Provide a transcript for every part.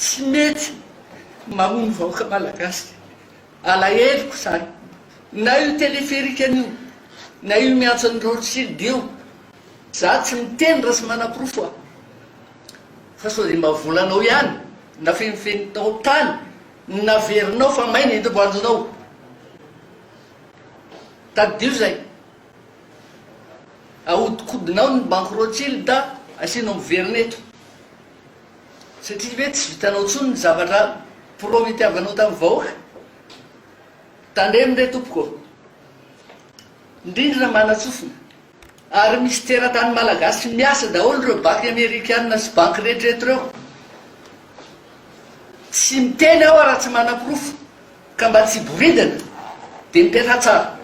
Tsy mety mamono vahoaka malagasy. Alaheloko zany. Na io téléphérique-ny io, na io miantsan'i Rothschild io. Za tsy miteny raha tsy manaporofo aho. Fa sao dia mba volanao ihany, nafenifeninao tany, naverinao fa may ny enti-boanjonao. Tadidio zay. Ahodikodinao ny banky Rothschild, asianao miverina eto. Satria ve tsy vitanao intsony ny zavatra prometiavanao tamin'ny vahoaka? Tandremo re tompoko ô! Ny rindrina manatsofina, ary misy teratany malagasy miasa daholo ireo baky amerikana sy banky rehetra eto ireo. Tsy miteny aho raha tsy manaporofo, ka mba tsy hiboridana, dia mipetraha tsara.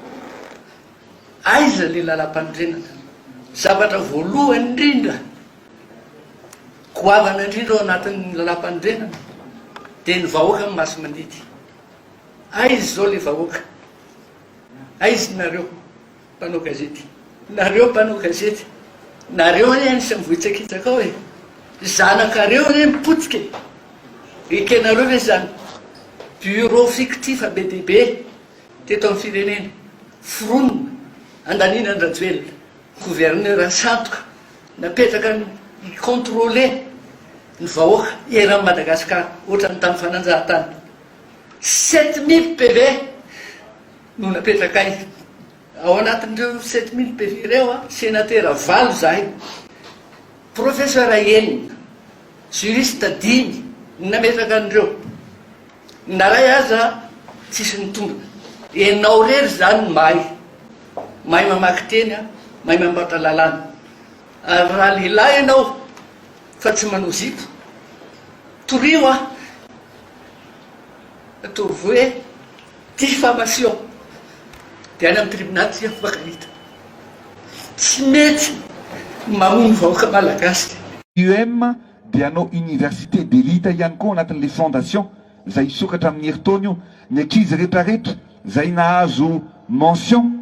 Aiza le lalam-panorenana? Zavatra voalohany indrindra goavana indrindra ao anatin'ny lalam-panorenana dia ny vahoaka no masi-mandidy. Aiza izao le vahoaka? Aiza nareo mpanao gazety? Nareo mpanao gazety, nareo anie anisan'ny vohitsakitsaka ao e! Zanakareo anie mipotika e! Ekenareo ve izany? Bureau fictif be dia be, Teto amin'ny firenena, foronina handaniana an-dRajoelina gouverneur sandoka napetraka hi-controler ny vahoaka eran'i Madagascar ohatran'ny tamin'ny fananjahantany. Sept mille PV no napetrakay. Ao anatin'ireo sept mille PV ireo, senatera valo izahay, professeur enina, juriste dimy no nametraka an'ireo. Na ray aza tsisy nitombina. Enao rery zany no mahay. Mahay mamaky teny a, mahay mampantra lalàna. Ary raha lehilahy enao fa tsy manao zipo, torio a! Ataovy hoe diffamation de any amin'ny tribunal tsy afakarita. Tsy mety ny mamono vahoaka malagasy. UM Dia hanao université d'élite ihany koa ao anatin'ilay fondation izay hisokatra amin'ny herintaona io. Ny ankizy retraretra izay nahazo mention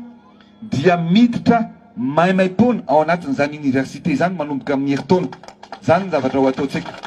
dia miditra maimaimpoana ao anatin'izany université izany manomboka amin'ny herintaona. Izany no zavatra ho ataontsika.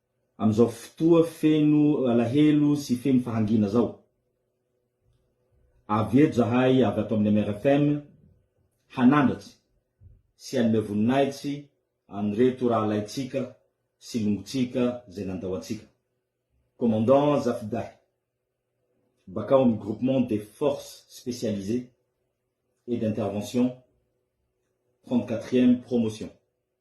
Amin'izao fotoa feno alahelo sy feno fahangiana izao, avy eto izahay avy ato amin'ny MRFM hanandratra sy hanome voninahitsy an'ireto rahalahintsika sy longontsika izay nandao antsika. Commandant Zafidahy, bakao amin'ny Groupement des Forces Spécialisées et d'Intervention, trente-quatrième promotion.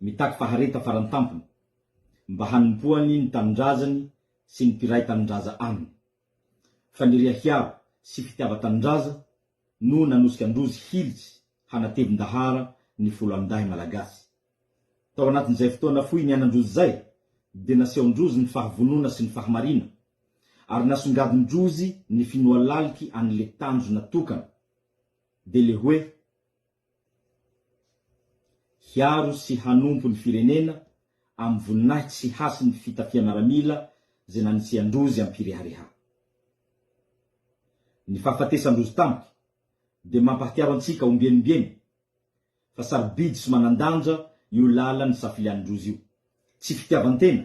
mitaky fahareta farany tampony mba hanompoany ny tanindrazany sy ny mpiray tanindraza aminy. Faniriha hiaro sy fitiava-tanindraza no nanosika an-drozy hilitsy hanatevin-dahara ny foloalindahy malagasy. Tao anatin'izay fotoana fohy niainan-drozy izay dia nasehon-drozy ny fahavonona sy ny fahamariana ary nasongadin-drozy ny finoalaliky an'le tanjona tokana dia le hoe, hiaro sy hanompo ny firenena amin'ny voninahitsy sy hasin'ny fitafiam-miaramila izay nanisian-drozy am-pirehareha. Ny fahafatesan-drozy tampoka dia mampahatsiaro antsika ombieny ombieny fa sarobidy sy manan-danja io lalan'ny safilian-drozy io. Tsy fitiavan-tena.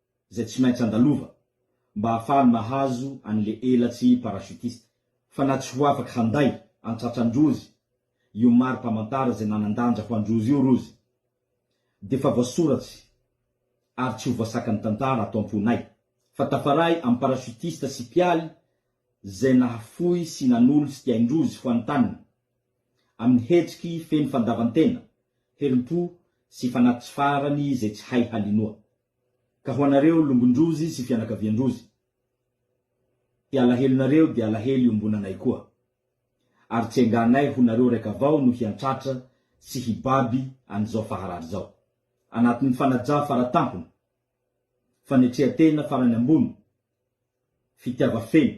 izay tsy maintsy andalova mba ahafahany mahazo an'ilay elatsy parachutiste. Fa na tsy ho afaka handay an-tratran-drozy io mari-pamantara izay nanan-danja ho an-drozy io rozy, dia efa voasoratsy ary tsy ho voasakan'ny tantara ato am-ponay fa tafaray amin'ny parachutiste sy mpialy izay nahafoy sy nanolo tsy tiain-drozy ho an'ny taniny amin'ny hetsiky feno fandavan-tena, herim-po sy fanahy tsy farany izay tsy hay halinoa. Ka ho anareo longon-drozy sy fianakavian-drozy, dia alahelonareo dia alahelo iombonanay koa. Ary tsy enganay ho nareo raika avao no hiantratra sy hibaby an'izao faharary izao. Anatin'ny fanaja faratampony, fanetrehan-tena farany ambony, fitiava feno,